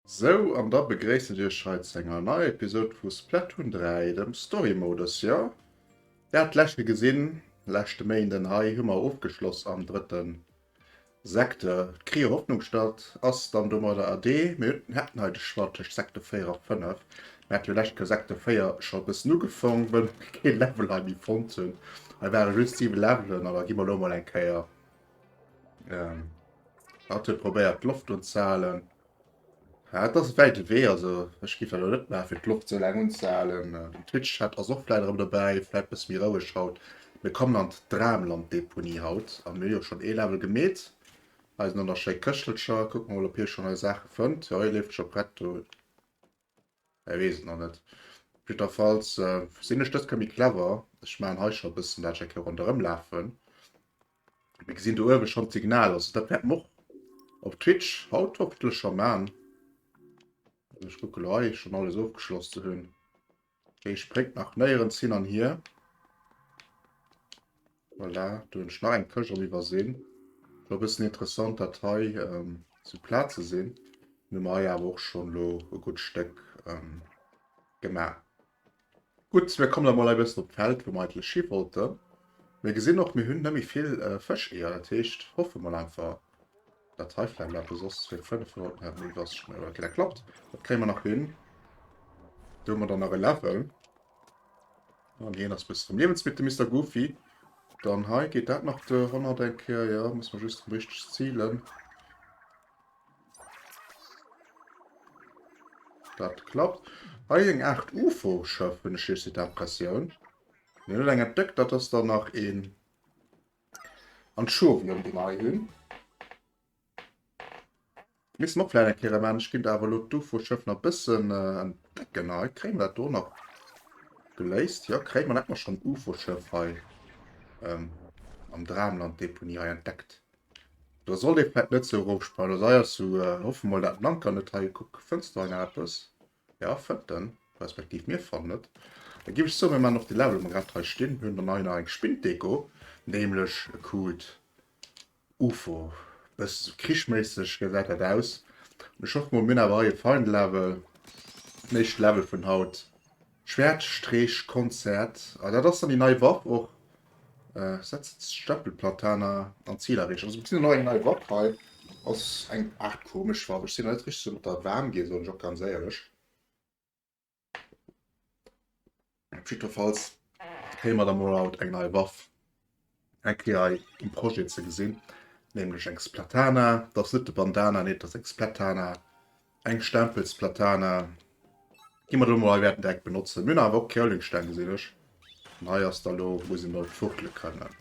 Sou, an da begréissen ech iech hei zu enger neier Episode vu Splatoon 3, dem Story Modus. Jo, där hat d'leschte gesinn, leschte Méinden. Hei hu mer ofgeschloss am drëtten Sekte, d'Krier Hoffnung statt ass dann domadder erdee. Mir hätten hei de Choix tëscht Sekte 4 a 5. Mir hätte jo lescht Kéier Sekte 4 scho e bëssen ugefangen, well mir kee Level hei méi fonnt hunn. Hei ware just 7 Levelen, awer gi mer elo emol eng Kéier, hat e probéiert d'Loft unzehalen. Ja, et ass e wäite Wee, also ech géif dat elo net maachen, fir d'Loft esou laang unzehalen. Den Twitch-Chat ass och vläit erëm dobäi, vläit e bësse méi roueg haut. Mir kommen an d'Dramland-Deponie haut a mir hu jo schonn ee Level gemeet. Eisen Anna schéi Këschtelcher, kucke mer mol, ob hie schonn nei Saache fënnt. Jo, hie leeft scho prett do. Hei wees et nach net. Jiddwerfalls sin ech dëske méi clever. Ech maan hei scho bëssen dat Jackie ronderëm laafen. Mir gesin do uewe schon d'Signal, also dat wärt mer och op Twitch haut hoffentlech schon maan. Ech kucke lo hei schon alles ofgeschloss ze hun. Dee spréngt nach néierens hin an hier. Voilà, do hunn ech nach eng Këscht am Iwwersinn. War e bëssen interessant, dat hei ähm, ze plaze sinn. Nun hu mer hei awer och schonn lo e gutt Stéck ähm, gemaach. Gutt, mir kommen da mol hei e bëssen op d'Feld, wou mer eigentlech hi wollten. Mir gesinn och, mir hunn net méi vill äh, Fëscheeër. Dat heescht, hoffe mol einfach. Dat hei flemmt awer soss fir 500 Mal méi wass schnell. Ok, dat klappt. Dat kréie mer nach hin. Do hu mer dann nach e Level. An hien ass bis zum Liewensmittel, Mister Goofy. Dann hei geet dat nach de Honnert eng Kéier. Ja, muss man just richteg zielen. Dat klappt. Hei eng Art UFO-Schëff, hunn ech hir Setup-Pressioun. Mir hunn eng entdeckt, dat ass dann nach een. An d'Schuer ewéi ëm den Ei hunn. Misst mer och vläit eng Kéier ëmaachen. Ech ginn der awer elo d'Ufo Schëff nach e bëssen en decken Ei. Kréie mer dat do nach geléist? Jo, kréie mer. Dann hätte mer schonn d'Ufo Schëff hei am Dramland Deponie hei entdeckt. Do sollt ee vläit net sou erof sprangen. Also hei ass sou, hoffen mol dat den Anker net hei. Kuck, fënns du hei nach eppes? Jo fënnt en, respektiv mir fannen et da giff ech soen mir man och de Level ma grad hei stinn hunn dann hei nach eng Spinndeko nämlech e Cube ufo bësse sou krichméisseg gesäit dat aus an ech hoffen mol mir hunn awer hei e fein Level den éischte Level vun haut Schwäertstreechkonzert a dat ass dann déi nei Waff och Äh, setzt Stempelplataner an Ziel erreechen. Also beziehen noch eng nei Wapp hei. Ass eng Art komesch Wapp. Ech sinn net richtig so mat der warm ginn, soen ech och ganz éierlech. Jiddwerfalls kréie mer da mol haut eng nei Waff eng Kéier hei um Projet ze gesinn, nämlech eng Splatana. Dat ass net de Bandana, nee, dat ass eng Splatana. Eng Stempelsplatana. Gi mer do mol hei wäerten direkt benotzen. Mir awer och Kreulingsteng gesinn ech. An hei ass da lo wou se mat fuchtele kënnen.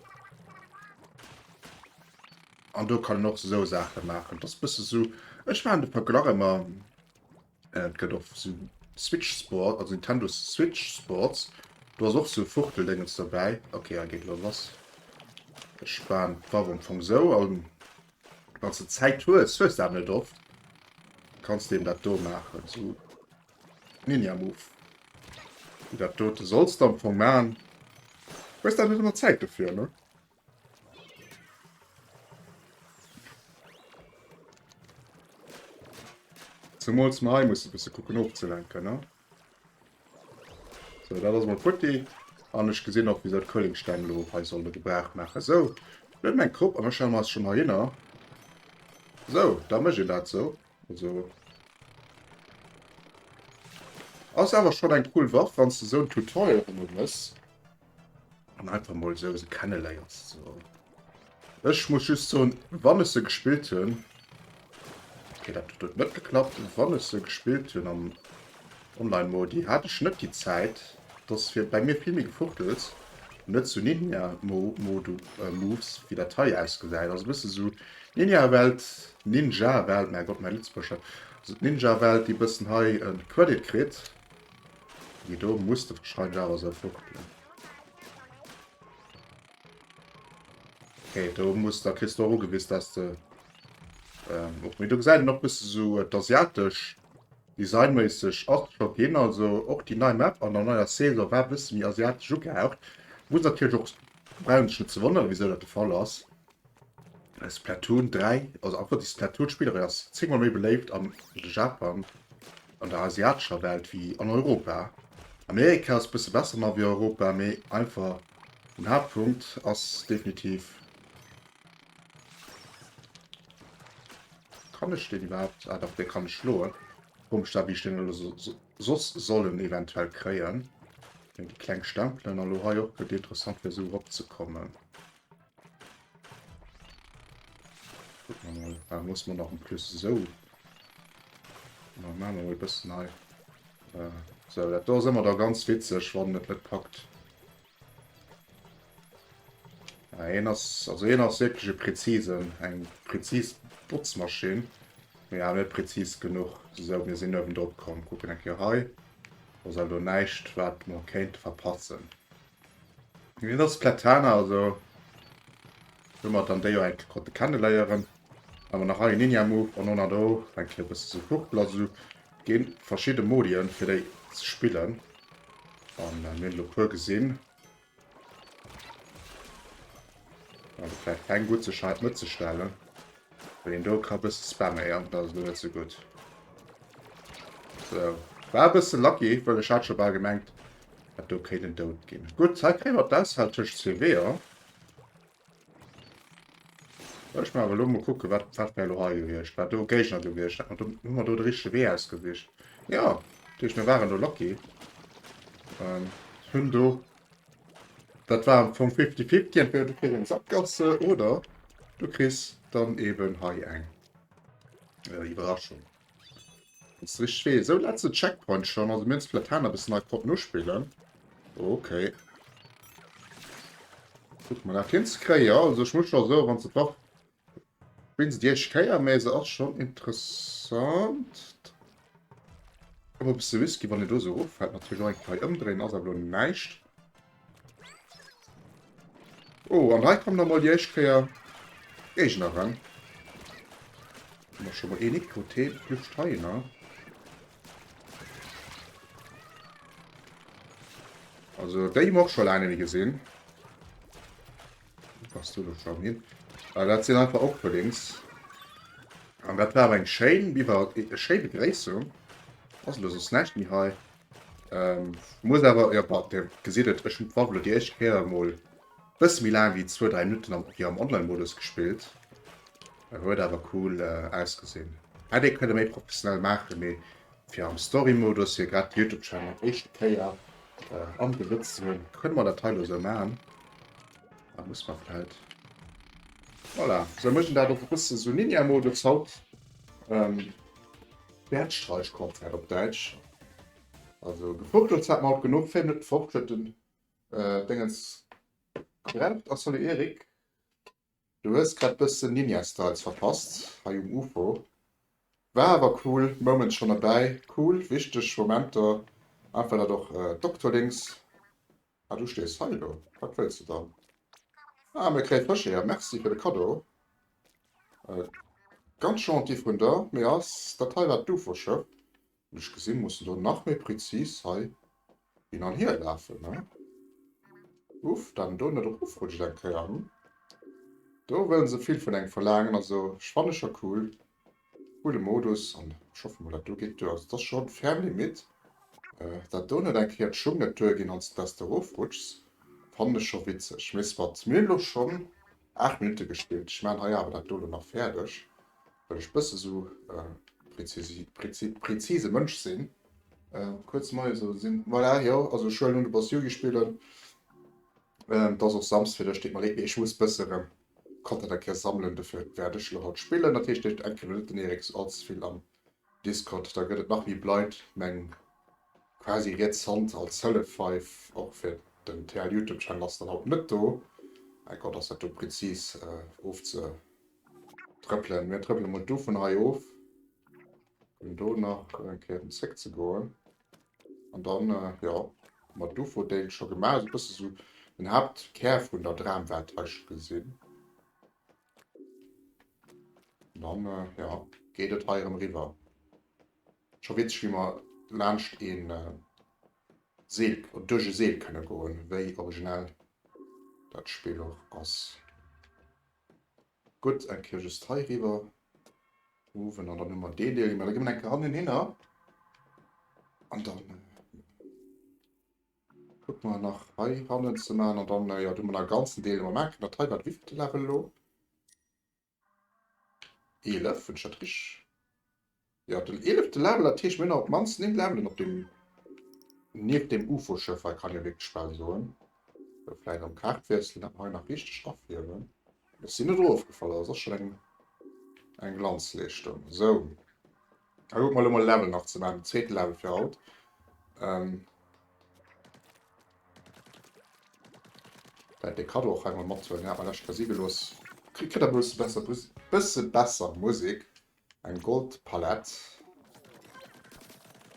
An do kann och so Sache machen. Das bësse so Ech waren de Verglach ëmmer äh, gëtt och so Switch Sport, also Nintendo Switch Sports. Du ass och so Fuchteldéngens dobäi. Okay, hei geet lo lass. Ech waren d'Waff am Fong sou an. Wanns de Zäit hues, hues de awer net oft, kanns de em dat do maachen, sou Ninja Move, wéi dat dote solls de am Fong maachen. Hues awer net ëmmer Zäit dofir, ne? Zemools mer hei musse bësse kucken ofzelenken, ne? So, dat ass mol futti. An ech gesinn och, wisou d'Kohlingsteng lo hei solle gebraucht maachen. So, mir hunn eng Krupp an da stelle mer eis scho mol hinner. So, da mécht een dat sou. Also. Ass awer schonn eng cool Waff, wann s de sou en Tutorial ëmmer hues. An einfach mal so se kennenléieren ze soen. Ech muss just soen, wann ech se gespillt hunn, okay, dat huet net geklappt, wann ech se gespillt hunn am Online-Modi, hat ech net déi Zäit, dass fir bei mir vill méi Gefuchtels, net zu Ninja Mo Modu äh, Moves, wéi dat hei ausgesäit. Also bësse so Ninja-Welt, Ninja-Welt, mäi Gott, mäi Lëtzebuerger, also d'Ninja-Welt, déi bëssen hei en Credit kritt. Déi do muss de wahrscheinlech awer sou fuchtelen. Okay, do muss der Christ do gewiss, dass de ähm, op mir du gesäit noch bis so äh, d'asiatesch designméisseg ass scho ginn, also och déi nei Map an der neuer Saison war bis mi asiatesch ugehaucht. Muss natürlich och braunen ze wonnere wieso dat de Fall ass. Splatoon 3, also einfach déi Splatoon-Spillerin ass 10 mol méi beléift am Japan, an der asiatescher Welt wéi an Europa. Amerika ass bësse besser mar wéi Europa, mee einfach den Haaptpunkt ass definitiv. Kann ech deen iwwerhaapt? Ah dach, dee kann ech schloen. Komesch da wéi ech deen elo soss sollen eventuell kréien. Déi kleng Stempelen, an elo hei och, gëtt interessant fir esou erop ze kommen. Da muss man noch ein plus so bis nei so dat do immer da ganz witzeg wann net net packt en ass also en ass wirklichsche präzisen eng präzis botzmaschin ja net präzis genug so mir sinn oben drop kommen gucken en hei was also neicht wat man kennt verpassen Wien ass d'Platana? Also, do mer dann déi jo eng konnte kenneléieren. Awer nach hei en Ninja-Move an honner do eng Kéier bësse sou fuchtelen. Also gi verschidde Modien, fir déi ze spillen. An mir hunn elo e puer gesinn. Also vläicht eng gutt, sech hei net ze stellen. Wann een do ka bëssen spaméieren, dann ass et lo net sou gutt. Sou. War e bëssen lucky, wëll ech hat scho bal gemengt, dat do kéint en dout ginn. Gutt, hei kréie mer d'Auswahl tëscht zwee Weeër. Well ech mer awer lo mol kucken, wat wat wär lo hei gewiescht, wat do Géigner gewiescht. Hat mer do, hu mer do de richtege Wee ausgesicht? Jo! Dat heescht, mir waren do lucky. Hunn do Dat war am Fong fifty fifty, entweder du kriss eng Sakgasse oder du kriss dann eben hei eng äh, Iwwerraschung. Das rich weh. So letzte Checkpoint schon. Also mir vielleicht Hahn bis nach Pop nur spielen. Okay. Guck mal, nach hinskriegen. Ja, also ich muss schon so, wenn es drauf Wéinst Iech Kéier, mä se ass schonn interessant. Op e bësse Whisky, wann en do esou eroffält. Natierlech och eng Kei ëmdréien, ass awer elo näischt. Oh, an hei kommen emol déi éischt Kéier Géigner eran. Hu mer scho mol een Niktoten, Lüft heiner. Also déi hu mer och scho laang net méi gesinn. Wou bass du elo schonn hin? Well dat sinn einfach Openings. An dat war awer eng schéin Biwer, eng schéi Begréissung. Ass elo soss näischt méi hei. Ähm, muss awer, jo, bon, Dir gesitt et, ech hunn d'Waff elo déi éischt Kéier emol e bësse méi laang wéi zwou, dräi Minutten am, jo, am Online-Modus gespillt. Huet awer cool ausgesinn. Hätt ee kënne méi professionell maachen, mee Fir am Storymodus hier grad Youtube Channel éischte Kéier am Besëtz ze hunn, kënne mer dat hei lo sou maachen. Da muss mer vläit. Voilà, sou mécht en dat och e bësse sou Ninja Modus haut. Ähm Bergsteigskonzert op Däitsch. Also gefurchtelt hat mer haut genuch, fir net fortschëtten. Dengens Krempt a Salut Eric. Du hues grad bëssen Ninja Styles verpasst hei um Ufo. War awer cool Moments schon erbäi, cool wichteg Momenter, einfach dat och Doktolinks, ah du stees hei elo, wat wëlls de dann? Ah mir kréie Fësch eeër, merci fir de Kaddo, ganz gentil vun der, mee ass dat hei wat d'Ufo Schëff? Wéi ech gesinn, mussen do nach méi präzis hei hin an hier lafen, ne? Uff, dann do net erofrutschen eng Kéier, hm? Do wëllen se vill vun engem verlaangen. Also ech fanne scho cool, coole Modus an ech hoffe mol dat do geet duer. Also et ass scho ferm Limite. Dat do net eng Kéier d'Schung net duer ginn anstatt dass de erofrutschs, fannen ech scho witzeg. Mee soit, mir hunn elo schonn 8 Minutte gespillt, ech maachen hei awer dat do elo nach fäerdeg. Well ech bësse sou prezise Mënsch sinn, kuerz mei esou sinn. Voilà jo, also ech huelen un de Boss Yugi spillen, et ass och Samsd fir lech, deet mer leed, mee ech muss bësse rem Content a kéier sammelen, dofir wäert ech lo haut spillen. Dat heescht ech enken lo net den Eriks allze vill am Discord, da gëtt et nach méi bleit meng quasi riets Hand als Hëllef hei och fir den TL Youtube Channel ass dann haut net do, mein Gott ass dat do prezis ofze. Trëppelen. Mir trëppele mol do vun hei of, fir do nach eng Kéier zréck ze goen. An dann, jo, hu mer dovu Déil scho gemaach. E bësse sou den Haaptkär vun der Dramwelt hei scho gesinn. An dann, jo, geet et hei erëm riwwer. Scho witzeg, wéi mer laanscht ee Seel, duerch e Seel kënne goen, wéi originell dat Spill och ass. Gutt, eng Kéier just hei riwwer ruffen, an dann hu mer deen Deel gemaach. Da gi mer eng Kéier hannen hinner an da kucke mer nach hei hannen ze maachen. An dann, jo, do hu mer nach e ganzen Deel, dee mer maachen. Dat hei war de wievillten Level elo? Eelef, hunn ech dat richteg? Jo, den eelefte Label, dat heescht mir hunn awer op d'mannst néng Labelen op deem, nieft deem Ufo-Schëff hei, kann ee wierklech bal soen. Sou, vläit am Kaart wiesselen, dat mer hei nach richteg rafiewen, dass si net erofgefall ass, ass schonn eng Glanzleeschtung. Sou, da kucke mer elo mol e Level nach ze maachen, den zweete Level fir haut. Vläit dee Kaddo och hei mol mathuelen, deen hat mer lech lescht Kéier si gelooss. Kritt der e bësse besser, bësse besser Musek. Eng Goldpalett,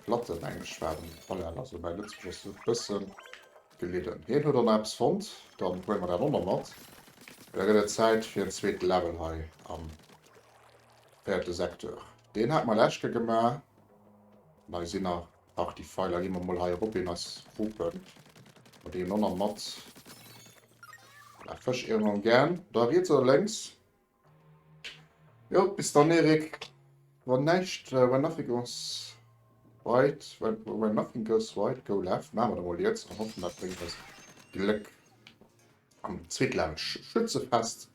Platten, eng schwaarz Palett, also mäi Lëtzebuergesch ass e bësse gelidden. Hien huet och nach eppes fonnt, dann huele mer dat och nach mat. An da gëtt et Zäit fir en zweete Level hei am véierte Secteur. Deen hate mer lech Kéier gemaach, an hei sinn nach Partie Feiler. Gi mer mol hei erop een eis Rupen, mer deenen och nach mat. Nach Fësch, Iermeren, Gän, da riets oder lénks? Jo, bis dann Erik. Wann näischt When Nothing Goes Right, when, when Nothing Goes Right, Go Left, maache mer dat emol jetzt an hoffen dat bréngt eis Gléck am Zweetlaanscht Schützefest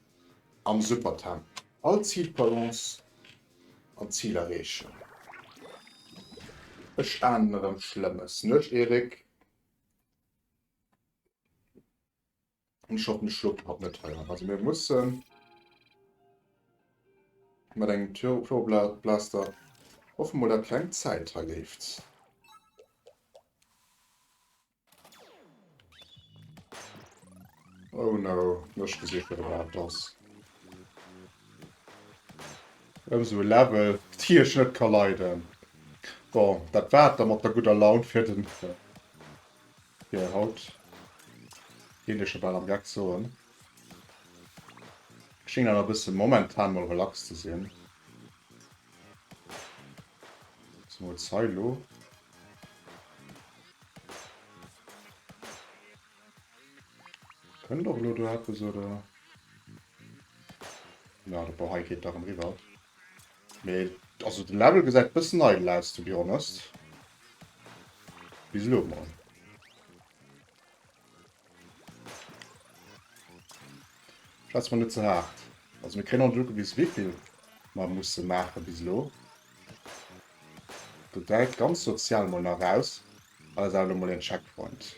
am Supertemp. All Zilbalance an Zil erreechen. Ech ahnen erëm Schlëmmes, nuecht Erik. Ech hab den Schlupp grad net hei an. Also mir mussen mat engem Pyroblaster. Hoffe mol dat keng Zäit hei leeft. Oh no, ech gesi scho wat dat ass. Ëm esou e Level dee ech net ka leiden. Bon, dat war et da mat der gudder Laun fir den. Fir haut géif ech bal am Geck soen. Schéngen awer e bësse momentan mol relax ze sinn. Zemools hei elo. Kënnt och elo do eppes oder? Na, de Ball hei geet dach erëm riwwer. Mee also den Level gesäit bëssen eidel aus to be honest. Bis lo mol. Schätz mer net ze hart. Also mir kréien och net ugewis wéivill mer musse maache bis lo. Do däit ganz sozial mol nach aus. Hei ass awer lo mol een Checkpoint.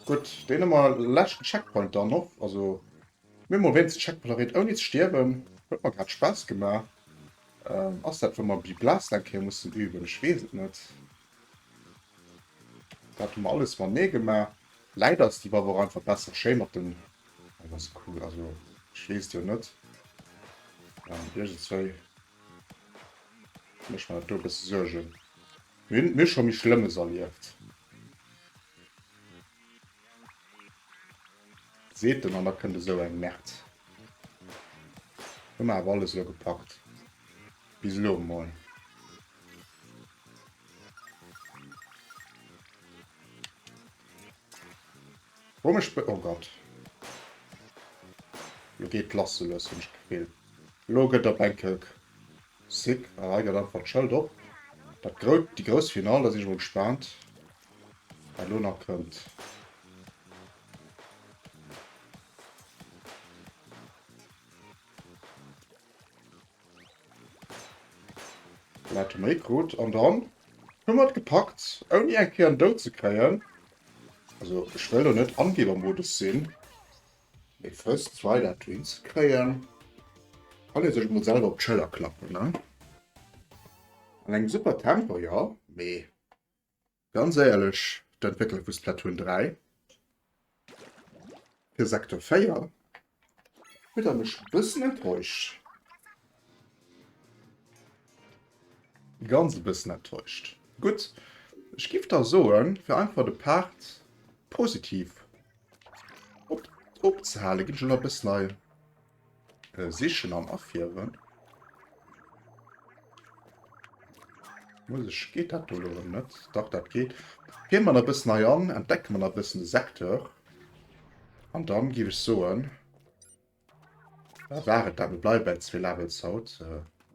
Gutt, deen hu mer leschten Checkpoint dann och, also Mir hu mol wéinst Checkpolaroid ouni ze stierwen. Huet mer grad Spaass gemaach. Ass dat wou mer Bly Blast eng Kéier mussen üben? Ech weess et net. Dat hu mer alles mat Nee gemaach. Läit ass déi Waff och einfach besser schéi mat den An ass cool. Also ech weess jo net. Iergendswéi mécht mer dat do e bësse Suergen. Mir hunn mir scho méi Schlëmmes erlieft. Seet en an da kënnt esou eng Merd. Hu mer awer alles elo gepackt. Bis elo emol. Wou mech be. Oh Gott. Lo geet lass soulos, hunn ech d'Gefill. Elo gëtt op enke sick. Ah hei gëtt einfach d'Schëld op. Dat grout, déi grouss Final, da sinn ech emol gespaant. Wat elo nach kënnt. Wat hu méi krut an dann hu mer et gepackt ouni eng Kéier en Doud ze kréien. Also ech wëll lo net Angebermodus sinn. Mee first try dat do hin ze kréien kann ee sech emol selwer op d'Schëller klappen ne? An engem super Tempo jo mee Ganz éierlech, d'Entwéckler vu Splatoon 3 fir Sector 4 huet der mech e bëssen enttäuscht. Ganz e bëssen enttäuscht. Gutt, ech giff da soen, fir einfach de Part positiv opzehalen, ginn ech elo nach e bëssen hei. Äh, sichen an affieren. Muss ich, geht dat do lo net? Dach dat geht. Gehen man ein bisschen nei an, entdecken man ein bisschen den Sektor. Und dann gebe ich so ein. Äh, war et da, wir bleiben bei zwei Levels haut. Äh,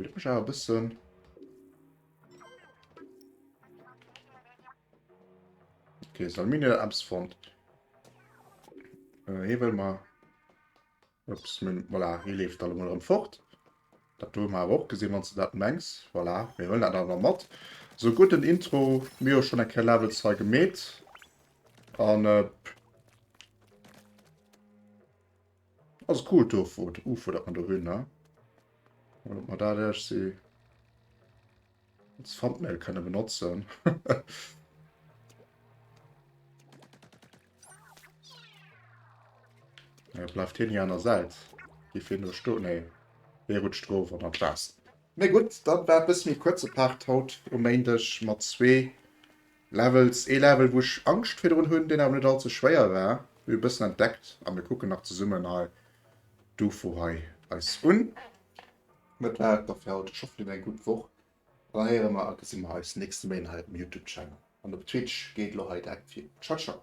Oh, leck mech awer e bëssen. Okay, soll mir net abs fond. Äh, hier wëll mer. Ups, min, voilà, hier leeft alle mal rëm fort. Dat du mal auch gesehen, wann du dat mengst. Voilà, mir wëllen dat awer mat. So gut den Intro, mir schon en Ker Level 2 gemet. An äh, Also cool d'Offuert, Ufuert dat mer do hunn, ne? An ob mer dat iergsi als Thumbnail kënne benotzen. Ja, bleift hien hir an der Säit. Giff hien do stoen? Nee, hie rutscht erof an an d'Waasser. Mee gutt, dat war e bësse méi kuerze Part haut um Méindeg mat zwee Levels, ee Level wou ech Angscht virdrun hunn, deen awer net all ze schwéier war. Mir hu e bëssen entdeckt a mir kucken nach zesummen hei d'UFO hei eis un. Dat war et da fir haut, ech hoffen dir hat eng gutt Woch an da héiere mer a gesi mer eis nächste Méint hei op dem Youtube Channel an op Twitch geet elo hei direkt vir. Ciao ciao.